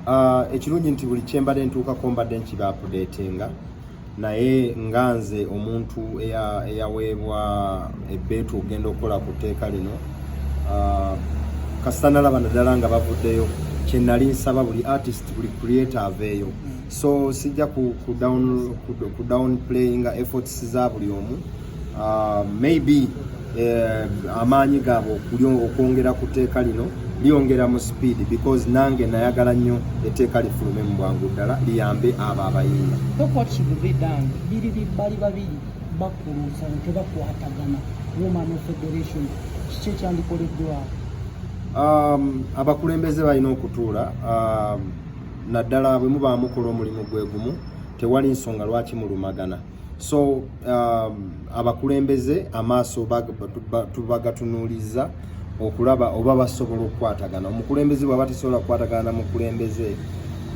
Ah, ekirungi nti buli kyembadde ntuukako mbadde nkiba apudeetinga naye nga nze omuntu eyaweebwa ebbeetu okugenda okukola ku tteeka lino ah, kasita nalaba naddala nga bavuddeyo kyenali nsaba buli artist buli creator aveeyo so sijja ku down playinga efforts za buli omu uh, maybe eh, amaanyi gaabwe okwongera ku tteeka lino lyongera mu speed because nange nayagala nnyo etteeka lifulume mu bwangu ddala liyambe abo abayimba bali babiri bakuluusa tebakwatagana woman federation kiki ekyandikoleddwawo um, abakulembeze balina okutuula um, naddala bwe mubaamukola omulimu gwe gumu tewali nsonga lwaki mulumagana so um, abakulembeze amaaso tubagatunuuliza okulaba oba basobola okukwatagana omukulembeze bwaba tesobola kukwatagana na mukulembeze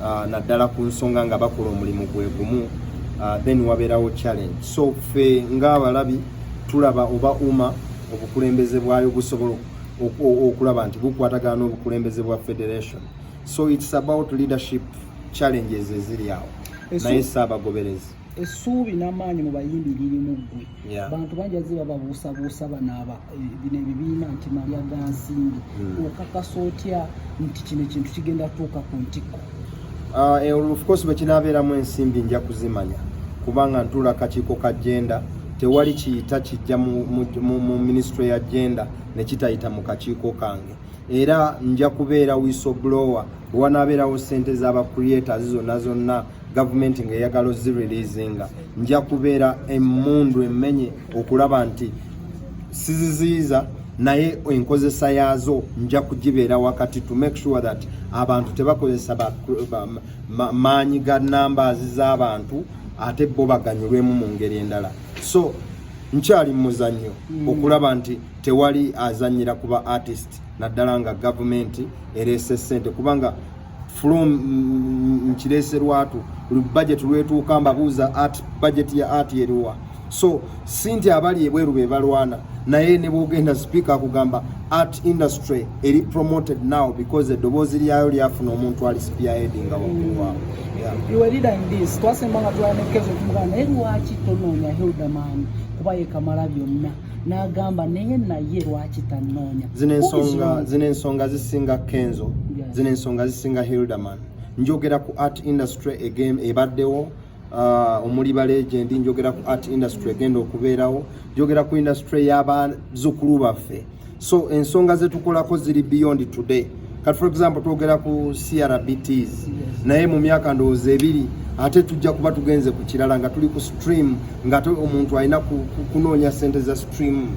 uh, naddala ku nsonga nga bakola omulimu gwe gumu uh, then wabeerawo challenge so ffe ng'abalabi tulaba oba uma obukulembeze bwayo busobola okulaba nti bukwatagana n'obukulembeze bwa federation so it's about leadership challenges eziri awo naye saabagoberezi essuubi n'amaanyi mu bayimbi liri mu ggwe bantu bangi azze bababuusabuusa banaaba eh, bino ebibiina nti malya ga nsimbi hmm. okakasa otya nti kino ekintu kigenda tuuka ku ntikko ah, eh, ofcourse bwe kinaabeeramu ensimbi nja kuzimanya kubanga ntuula kakiiko ka jenda tewali kiyita kijja mu minisitule ya jenda ne kitayita mu kakiiko kange era nja kubeera wisoblower bwe wanaabeerawo ssente z'abacreators zonna zonna gavumenti ng'eyagala ozireleasinga nja kubeera emmundu emmenye okulaba nti siziziyiza naye enkozesa yaazo nja kugibeera wakati to make sure that abantu tebakozesa maanyi ga numbers z'abantu ate bo baganyulwemu mu ngeri endala so nkyali muzannyo mm. okulaba nti tewali azanyira kuba artist naddala nga gavumenti ereese ssente kubanga from nkirese lwatu buli budget lwetuuka mbabuuza art budget ya art eriwa so sinti abali ebweru be balwana naye ne bwogenda speaker akugamba art industry eri promoted now because eddoboozi lyayo lyafuna omuntu ali spearheadinga waggulu waabo twasemba nga twanekezo kumugana naye lwaki tonoonya hildaman kuba yekamala byonna n'agamba naye naye lwaki tannoonya zino ensonga zino ensonga zisinga kenzo zino ensonga zisinga hilderman njogera ku art industry egame ebaddewo uh, omuli balegendi njogera ku art industry egenda okubeerawo njogera ku industry y'abazuukulu baffe so ensonga zetukolako ziri beyond today kati for example twogera ku crbts naye mu myaka ndowooza ebiri ate tujja kuba tugenze ku kirala nga tuli ku stream ngaate omuntu alina kunoonya sente za stream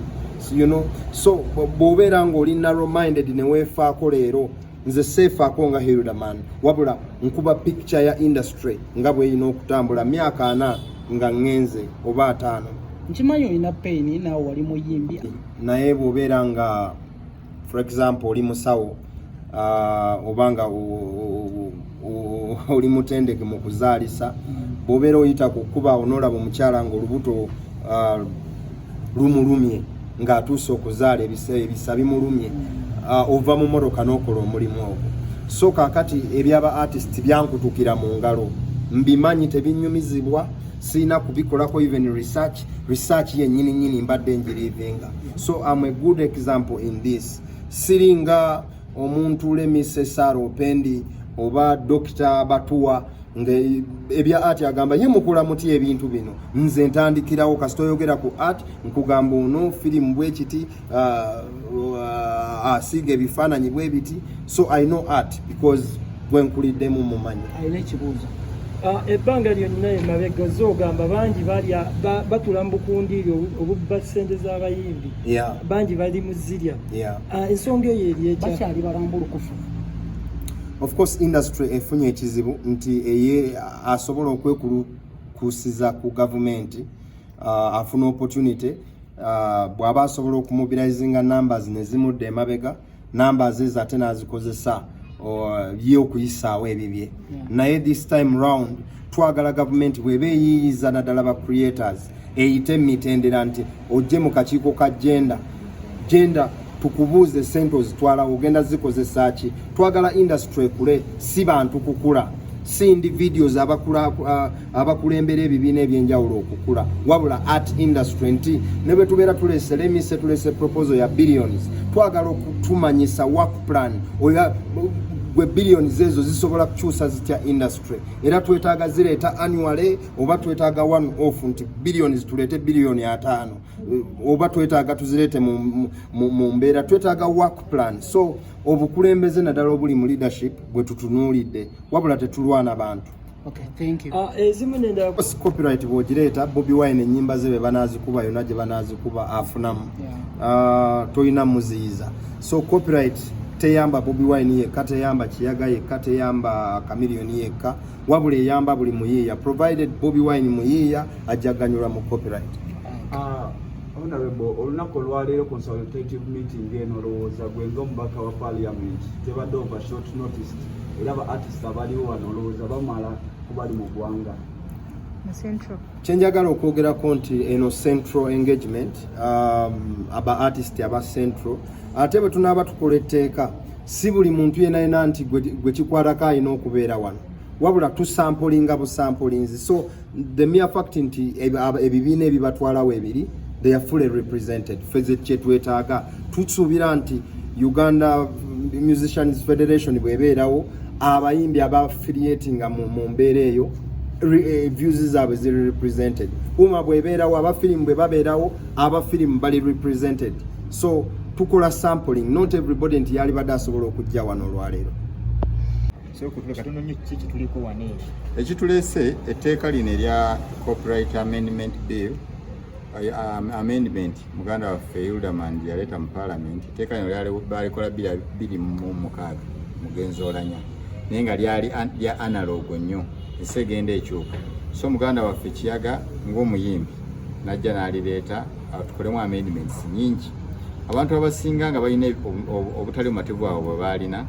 you know so bwobeera ngaoli narrow minded neweefaako leero nze seefaako nga hilderman wabula nkuba picture ya industry nga bweyina okutambula myaka ana nga ngenze oba ataano nkimanyi olina paini naawe wali muyimbi naye bwobeera nga for example oli musawo uh, oba nga oli mutendeke mu kuzaalisa mm. bwobeera oyita ku kuba onoolaba omukyala nga olubuto uh, lumulumye ng'atuuse okuzaala ebisa bimulumye uh, ova mu motoka n'okola omulimu ogwo so kakati ebyaba artist byankutukira mu ngalo mbimanyi tebinyumizibwa sirina kubikolako even research research yennyini nyini mbadde njirivinga so am a good example in this siringa omuntu lemise sara opendi oba dokita batuwa nga ebya ati agamba ye mukula muti ebintu bino nze ntandikirawo kasita oyogera ku art nkugamba ono firimu bwekiti uh, uh, asiiga ebifaananyi bwe biti so i know art because gwenkuliddemu mumanyi alina ekibuuzo uh, ebbanga lyonna emabega oze ogamba bangi balya batula mu bukundiiri obubba ssente z'abayimbi bangi bali mu zirya uh, ensonga eyo eri ekyakyali balambulukufu of course industry efunye ekizibu nti eye asobola okwekulukusiza ku gavumenti uh, afuna opportunity uh, bwaba asobola okumubilayizinga numbers nezimudda emabega numbers ezo ate nazikozesa ye okuyisaawo ebibye naye this time round twagala gavumenti bweba eyiyiza naddala ba creators eyite mitendera nti ojje mu kakiiko ka genda genda tukubuuze sente ozitwala ogenda zikozesa ki twagala industry ekule si bantu kukula si individuals abakulembera ebibiina ebyenjawulo okukula wabula art industry nti ne bwe tubeera tulese lemise tulese proposal ya billions twagala okutumanyisa work plan oya gwe billions ezo zisobola kukyusa zitya industry era twetaaga zireeta annually oba twetaaga one off nti billions tuleete billioni ataano oba twetaaga tuzireete mu mbeera twetaaga work plan so obukulembeze naddala obuli mu leadership bwe tutunuulidde wabula tetulwana bantu ah, eh, copyright bwogireeta bobi wine enyimba ze be banaazikuba yona gye banaazikuba afunamu ah, tolina muziyiza so copyright teyamba bobi wine yekka teyamba kiyaga yekka teyamba kamiliyoni yekka wabula eyamba buli muyiiya provided bobi wine muyiiya ajjaganyulwa mu copyright ah, honorable olunaku olwaleero consultative meeting eno olowooza gwe nga omubaka wa parliament tebadde over short notice era ba artist abaliwo wano olowooza bamala kubali mu ggwanga kyenjagala okwogerako nti eno central engagement um, aba artist aba central ate bwe tunaaba tukola etteeka si buli muntu yena yena nti gwe kikwatako alina okubeera wano wabula tusampulinga busampulinzi so the mere fact nti ebibiina ebibatwala webiri they are fully represented feze kyetwetaaga tusuubira nti uganda musicians federation bwebeerawo abayimbi aba affiliatinga mu mbeera eyo Eh, views zaabwe ziri represented uma bwebeerawo abafirimu bwe babeerawo abafirimu bali represented so tukola sampling not everybody nti yali bada asobola okujja wano olwaleero ekituleese etteeka lino erya copyright amendment bill um, amendment muganda waffe ildaman yaleeta mu palamenti etteeka lino balikola biri mu mukaaga mugenzi olanya naye nga lyali lya analog nnyo ensi egenda ekyuka so muganda waffe kiyaga ng'omuyimbi najja n'alireeta tukolemu amendments nyingi abantu abasinga nga balina obutali bumativu abo bwe baalina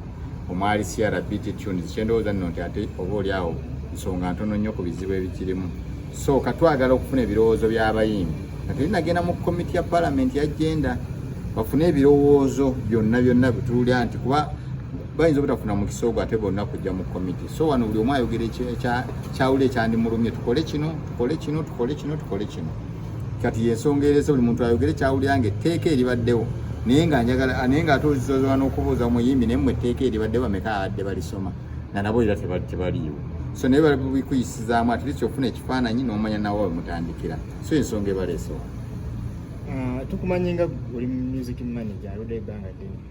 omwali crbt tunes kyendowooza nno nti ate oba oli awo nsonga ntono nnyo ku bizibu ebikirimu so katwagala okufuna ebirowoozo by'abayimbi ate nagenda mu komiti ya palamenti ya genda bafune ebirowoozo byonna byonna bituulya nti kuba bayinza obutafuna mukisa ogwo ate bonna kujja mu komiti so wano buli omu ayogera ekyawula ekyandimulumye tukole kino tukole kino tukole kino tukole kino kati yensonga erese buli muntu ayogere kyawulira nga etteeka eribaddewo naye nga njagala naye nga ate ozizozola n'okubuuza omuyimbi naye mu etteeka eribadde bameka abadde balisoma nga nabo era tebaliiwo so naye babikuyisizaamu at least ofuna ekifaananyi n'omanya nawe wemutandikira so ensonga ebaleesewa ah, tukumanyi nga oli music manager aludde ebbanga ddene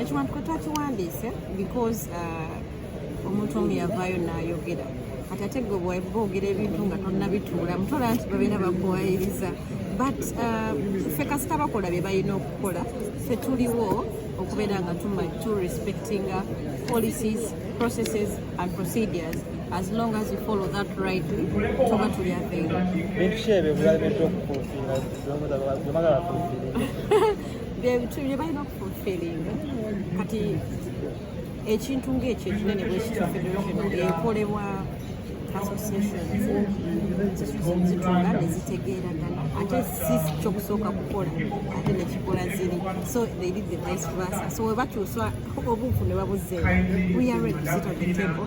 ekiwandiiko mm. twakiwandiise because uh, omuntu omu yavaayo nayogera kati ate gwe bwogera ebintu nga tonnabituula mutola nti babeera bakuwayiriza but uh, ffe kasita bakola bye balina okukola ffe tuliwo okubeera nga tu respecting uh, policies processes and procedures as long as you follow that rightly tuba tuli aveiwa byebitu byebalina okufufiringa kati ekintu ngaekyo ekinene bwekityo federation ekolebwa zitwala nezitegeeragana ate si kyokusooka kukola ate nekikola ziri so they did the vice versa so webakyusa obuufu ne babuzeewo we are ready to sit on the table